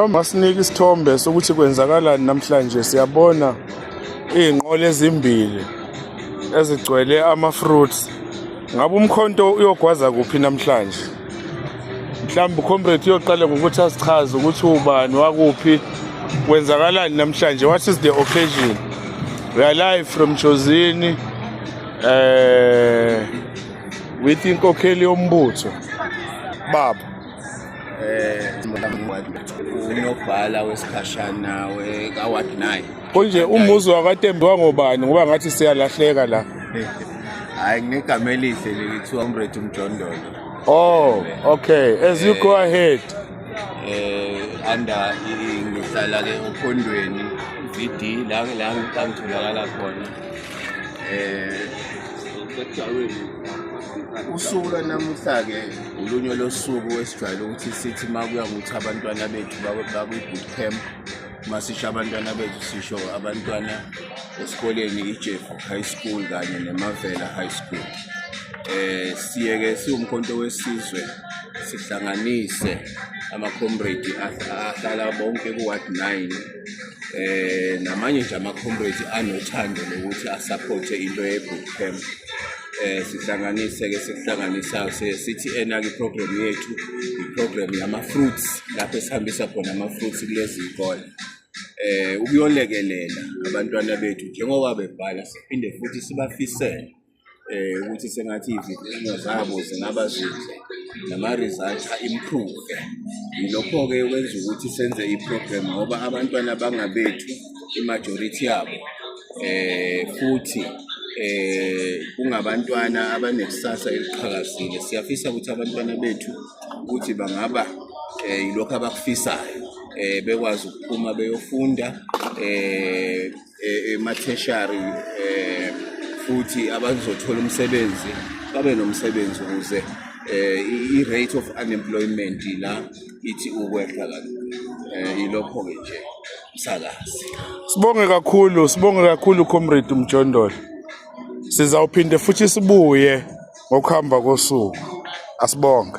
Masinika isithombe sokuthi kwenzakalani namhlanje siyabona izinqola ezimbili ezigcwele ama-fruits ngabe umkhonto uyogwaza kuphi namhlanje mhlawumbe ucomrade uyoqala ngokuthi asichaze ukuthi ubani wakuphi kwenzakalani namhlanje what is the occasion we are live from jozini um eh, with inkokheli yombutho baba unobhala wesikhashana wekaward 9 konje umuzi wakatembe wangobani ngoba ngathi siyalahleka la hayi nginegama elihle leli kuthiwa umrethi umjondolo oh okay as you go ahead eh under ngihlala ke okhondweni VD la la ngitholakala khona eh usuku lanamuhla ke Ulunye losuku esijwayele ukuthi sithi uma kuya ukuthi abantwana bethu bakwi-boot camp uma sisho abantwana bethu sisho abantwana esikoleni ijefu high school kanye nemavela high school eh siyeke siwumkhonto wesizwe sihlanganise ama-comrade ahlala bonke ku-ward 9 eh namanye nje ama-comrades anothando lokuthi asaphothe into ye-boot camp eh sihlanganise ke sikuhlanganisa sithi ena ke program yethu iprogram yama fruits lapho esihambisa khona ama fruits kulezi zikole eh ukuyolekelela abantwana bethu njengoba bebhala siphinde futhi sibafisele eh ukuthi sengathi izifundo zabo zingaba zinhle nama-result a-improve yilokho-ke kwenza ukuthi senze i-program ngoba abantwana bangabethu i-majority yabo eh futhi eh kungabantwana abanekusasa eliqhakazile siyafisa ukuthi abantwana bethu ukuthi bangaba eh yilokho abakufisayo eh bekwazi ukuphuma beyofunda eh e, ematheshari um e, futhi abazothola umsebenzi babe nomsebenzi ukuze um i-rate of unemployment la ithi ukwehla kalula um ilokho-ke nje msakazi sibonge kakhulu sibonge kakhulu comrade umjondolo sizawuphinde futhi sibuye ngokuhamba kosuku asibonge